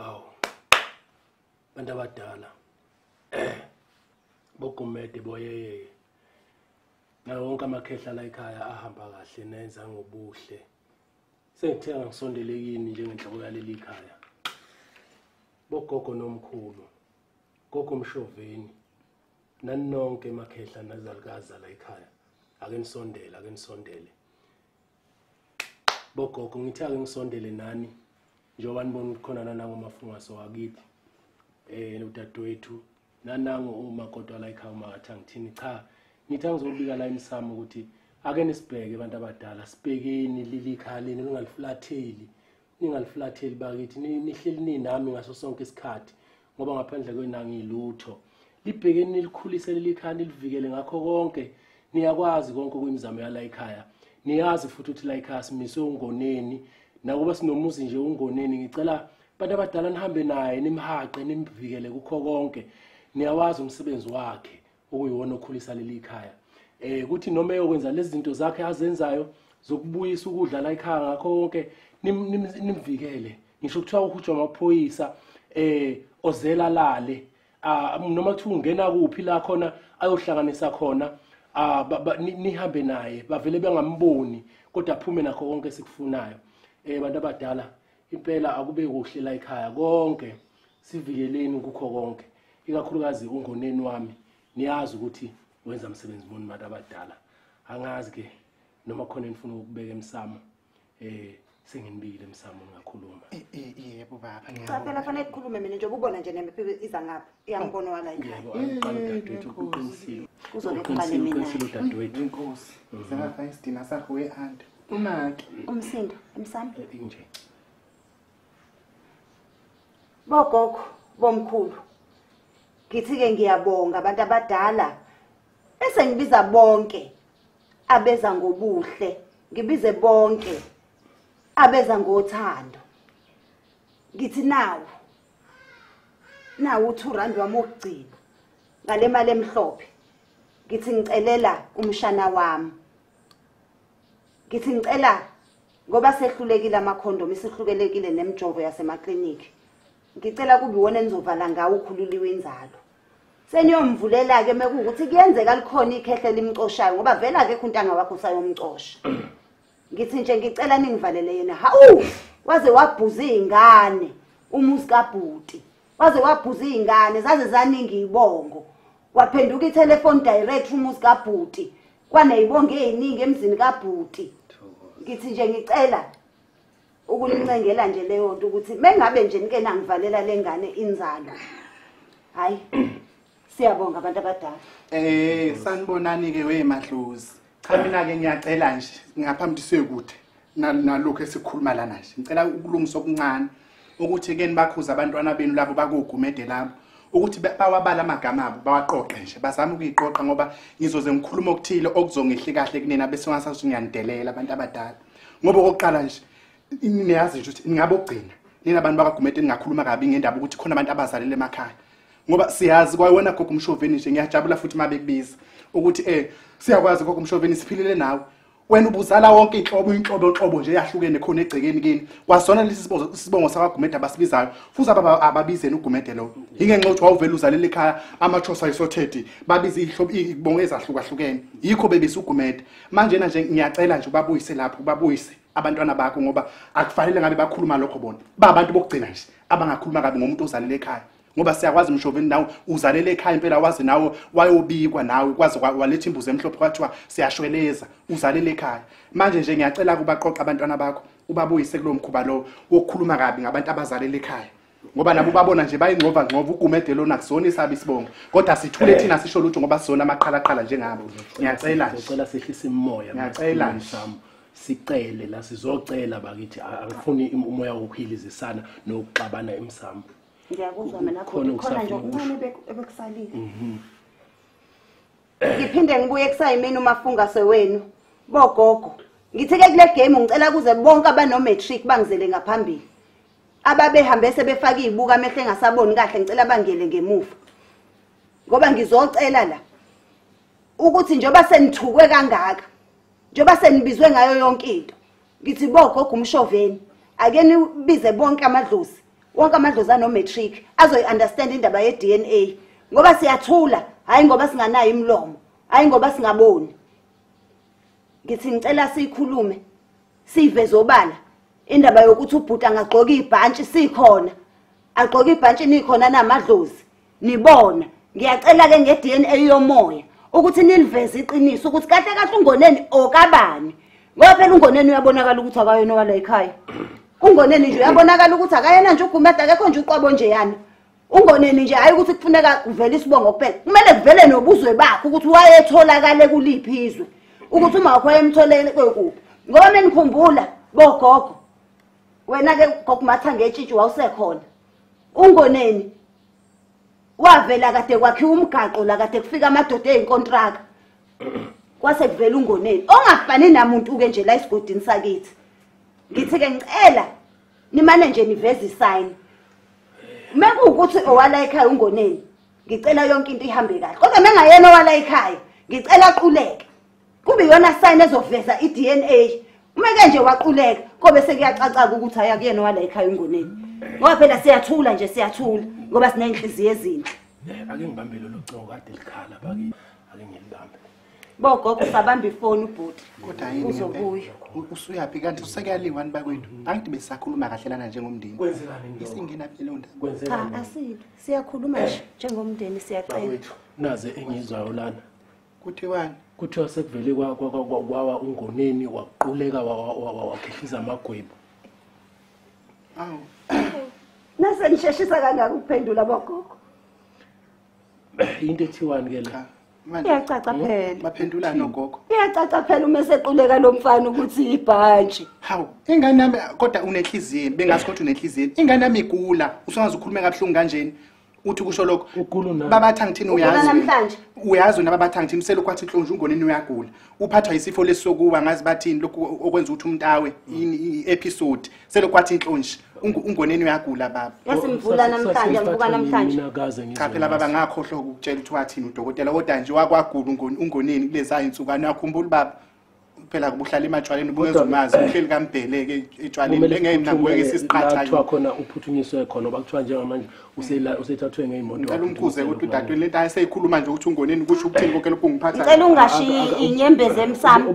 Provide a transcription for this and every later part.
hawu bantu abadala bogumede boyeyeye nawo wonke amakhehla la ekhaya ahamba kahle nenza ngobuhle sengithe angisondele kini njengenhloko yaleli khaya bogogo nomkhulu gogo mshoveni naninonke emakhehla nazalukazi la ekhaya ake nisondele ake nisondele bogogo ngithi ake ngisondele nani njengoba nibona ukuthi khona nanango mafungaso wakithi eh udadewethu nanango uma kodwa la ekhaya uma ngathi angithini cha ngithi angizobika la emsamo ukuthi ake nisibheke abantu abadala sibhekeni lilikhaya leni lingalifulatheli ningaliflatheli bakithi nihleli ninami ngaso sonke isikhathi ngoba ngaphandle kwenu angilutho libhekeni nilikhulise leli khaya nilivikele ngakho konke niyakwazi konke okuyimizamo yala ikhaya niyazi futhi ukuthi la ikhaya simiswe ungoneni nakuba sinomuzi nje ungoneni ngicela abantu abadala nihambe naye nimhaqe nimvikele kukho konke niyawazi umsebenzi wakhe okuyiwona okhulisa leli khaya eh kuthi noma eyokwenza lezi zinto zakhe azenzayo zokubuyisa ukudla la ekhaya ngakho konke nimvikele ngisho kuthiwa uhujwa amaphoyisa eh ozela lale ah, noma kuthiwa ungena kuphi la khona ayohlanganisa khona ah, nihambe naye bavele bengamboni kodwa aphume nakho konke sikufunayo eh bantu abadala impela akube kuhle la ekhaya konke sivikeleni kukho konke ikakhulukazi ungoneni wami niyazi ukuthi wenza msebenzi muni bantu abadala angazi ke noma khona enifuna ukubeka emsamo eh senginibile emsamo ngakhuluma eh, eh, yebo baba cha phela fanele kukhulume mina nje ubona nje nemphi iza ngapha iyambona wala ekhaya yebo angiqala dadwethu uqinisile uzolekhale mina uqinisile dadwethu inkosi mm. sengafayisdina sakho we aunt umaki umsindo emsamo eh, inje bogogo bomkhulu ngithi ke ngiyabonga abantu abadala esengibiza bonke abeza ngobuhle ngibize bonke abeza ngothando ngithi nawo nawo u2 rand wami okugcina ngale mali emhlophe ngithi ngicelela umshana wami ngithi ngicela ngoba sehlulekile amakhondom isihlukelekile nemjovo yasemaklinikhi ngicela kube iwona enizovala ngawo ukhululiwe inzalo seniyomvulela-ke mekuwukuthi kuyenzeka likhona ikhehle limcoshayo ngoba vele akekho untanga wakho usayomcosha ngithi nje ngicela ningivalele yena hawu waze wabhuza iy'ngane umuzi kabhuti waze wabhuza iy'ngane zaze zaningi ibongo waphenduka ithelefoni direct umuzi kabhuti kwaneyibonge eziningi emzini kabhuti ngithi nje ngicela ukunincengela nje leyo nto ukuthi mengabe nje nike nangivalela lengane inzalo hayi siyabonga abantu abadala eh sanibonani ke wemadlozi cha mina ke ngiyacela nje ngaphambi sekude nalokhu esikhuluma lana nje ngicela ukulungisa okuncane ukuthi ke nibakhuza abantwana benu labo bakugumede labo ukuthi bawabala amagama abo bawaqoqe nje bazama ukuyiqoqa ngoba ngizoze ngikhuluma okuthile okuzongehli kahle kunina bese ungasathi ngiyanidelela abantu abadala ngoba okokuqala nje niyazi nje ukuthi ningabe ogcina nina abantu bakagumede ningakhuluma kabi ngendaba ukuthi khona abantu abazalele emakhaya ngoba siyazi kwayona gogo umshoveni nje ngiyajabula futhi uma bekubiza ukuthi um siyakwazi gogo umshoveni siphilele nawe wena ubuzala wonke inhlobo inhlobo inhlobo nje yahlukene khona egcekeni kini kwasona lesi sibozo sibongo sakwaGumede abasibizayo futhi ababa ababizeni uGumede lo ingenxa ukuthi wawuvela uzalele ekhaya amachosa isothethi babiza ihlobo ibongo ezahlukahlukene yikho bebisa uGumede manje na nje ngiyacela nje ubabuyise lapho ubabuyise abantwana bakho ngoba akufanele ngabe bakhuluma lokho bona ba abantu bokugcina nje abangakhuluma kabi ngomuntu ozalele ekhaya ngoba siyakwazi mshoveni nawe uzalele ekhaya impela wazi nawe wayobikwa nawe kwaze waletha imbuzi emhlophe kwathiwa siyashweleza uzalele ekhaya manje nje ngiyacela kubaqoqa abantwana bakho ubabuyise kulo mkhuba lowo wokukhuluma kabi ngabantu abazalele ekhaya ngoba nabo babona nje bayingcova ngcova ugumede lona kusona isabi isibongo kodwa sithule eh. thina sisho lutho ngoba sizona amaqhalaqhala njengabo ngiyacela ngicela sehlisa imoya ngiyacela msamo sicele la sizocela bakithi angifuni umoya wokuhilizisana nokuxabana emsamo ngiyakuzwa mina khona khona nje okuncane ebekusalile mhm. ngiphinde ngibuye kusayimini umafunga sewenu bogogo ngithe ke kule game ngicela kuze bonke abano matric bangizele ngaphambili ababehambe sebefaka izibuka amehle engasaboni kahle ngicela bangele ngemuva ngoba ngizocela la ukuthi njoba senithukwe kangaka njoba senibizwe ngayo yonke into ngithi bogogo umshoveni ake nibize bonke amadlozi wonke amadlozi anomatric azoyi-understand indaba ye-d n a ngoba siyathula hhayi ngoba singanayo imilomo hhayi ngoba singaboni ngithi ngicela siyikhulume siyiveze obala indaba yokuthi ubhuti angagqoki ibhantshi sikhona agqoke ibhantshi nikhona namadlozi nibona ngiyacela ke nge DNA yomoya ukuthi niliveze iqiniso ukuthi kahle kahle ungoneni okabani ngoba phela ungoneni uyabonakala ukuthi akayona wala ekhaya ungoneni nje uyabonakala ukuthi akayena nje ugumeda akekho nje uqwabo nje yana ungoneni nje hayi ukuthi kufuneka kuvele isibongo kuphela kumele kuvele nobuzwe bakho ukuthi wayetholakale kuliphi izwe ukuthi uma wakho wayemtholele kwekuphi ngoba menikhumbula bogogo wena-ke gogo mathangetshishi wawusekhona ungoneni wavela kade kwakhiwa umgaqo la kade kufika amadoda eyinkontraka kwase kuvela ungoneni ongafani namuntu ke nje la isigodini sakithi ngithi ke ngicela nimane nje niveze isayini mekuwukuthi owala ekhaya ungoneni ngicela yonke into ihambe kahle kodwa mengayena owala ekhaya ngicela aquleke kube iyona sign ezoveza i-dna uma ke nje waquleka kobe sekuyacaca-ke ukuthi haya kuyena wala ekhaya ungoneni ngoba phela siyathula nje siyathula ngoba siney'nhliziyo ezinhle ake ngibambe lolo cobo kade likhala baki ake ngilibambe bogogo sabamba ifoni ubhuti uzobuya usuyaphi kanti usekuyaliwa ni bakwethu angithi besisakhuluma kahlelana njengomndeni isingenaphi leyo ndaba asile siyakhuluma nje njengomndeni siyacela naze engizwayo lana kuthiwani kuthiwa sekuvele kwawa ungoneni waquleka wakhihliza amagwebu awu nase ngisheshisa kangaka ukuphendula bogogo into ethiwani ke la iyacaca hmm? phela baphendula nogogo iyacaca phela uma esequleka lo mfana ukuthi ibhantshi hawu ingane yami kodwa unenhliziyo bengazi kodwa unenhliziyo ingane yami igula usungaze ukhulume kabuhlungu kanjeni uthi kusho lokho babathi angithini uyazi uyazi wena babathi angithini uselokhu athi nhlonje ungoneni uyagula uphathwa yisifo lesokuwa ngazi bathini lokhu okwenza ukuthi umntawe i-episode selokhu athi nhlonje ungoneni uyagula baba yasimvula namhlanje amvuka namhlanje cha phela baba ngakhohlwa ukutshela ukuthi wathini udokotela kodwa nje wakwagula ungoneni kulezaa insuku anakhumbula baba phela kubuhlala ematshwaleni ubungeza umazi uhleli kambheleke etshwaleni engeke ngibukeke isiqatha kuthiwa khona uphuthunyiswe khona oba kuthiwa njengamanje usela usethathwe ngeimoto ngicela umkhuze ukuthi udadweni lento ayiseyikhuluma nje ukuthi ungoneni ukuthi ukuthini konke lokhu ngiphatha ngicela ungashiyi inyembezi emsamo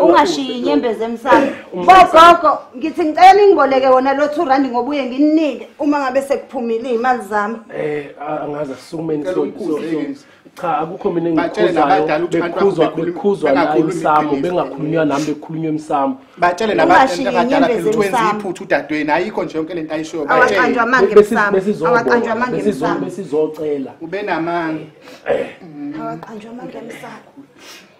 ungashiyi inyembezi emsamo bogogo ngithi ngicela ningiboleke wona lo 2 rand ngoba uye nginike uma ngabe sekuphumile izimali zami eh angazi asukumeni so cha akukho mina engikhuzayo bekhuzwa bekhuzwa la emsamo bengakhulunywa nami bekhulunywa emsamo batshele nabantu abadala phela ukuthi wenza iphutha udadweni ayikho nje yonke lento ayishoyo batshele awaqanjwa amanga emsamo besizocela ube namanga awaqanjwa amanga emsamo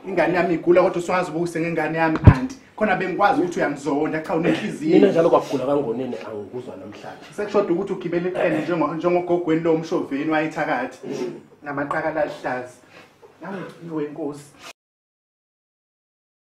ingane yami igula kodwa usungazi ubukuse ngengane yami anti khona bengikwazi ukuthi uyangizonda cha unenhliziyo mina njalo kwagula kangonene angikuzwa namhlanje sekushoda ukuthi ugibele iqene njengogogweni lo mshoveni wayethakathi namaqakala aluhlaza nangiwe inkosi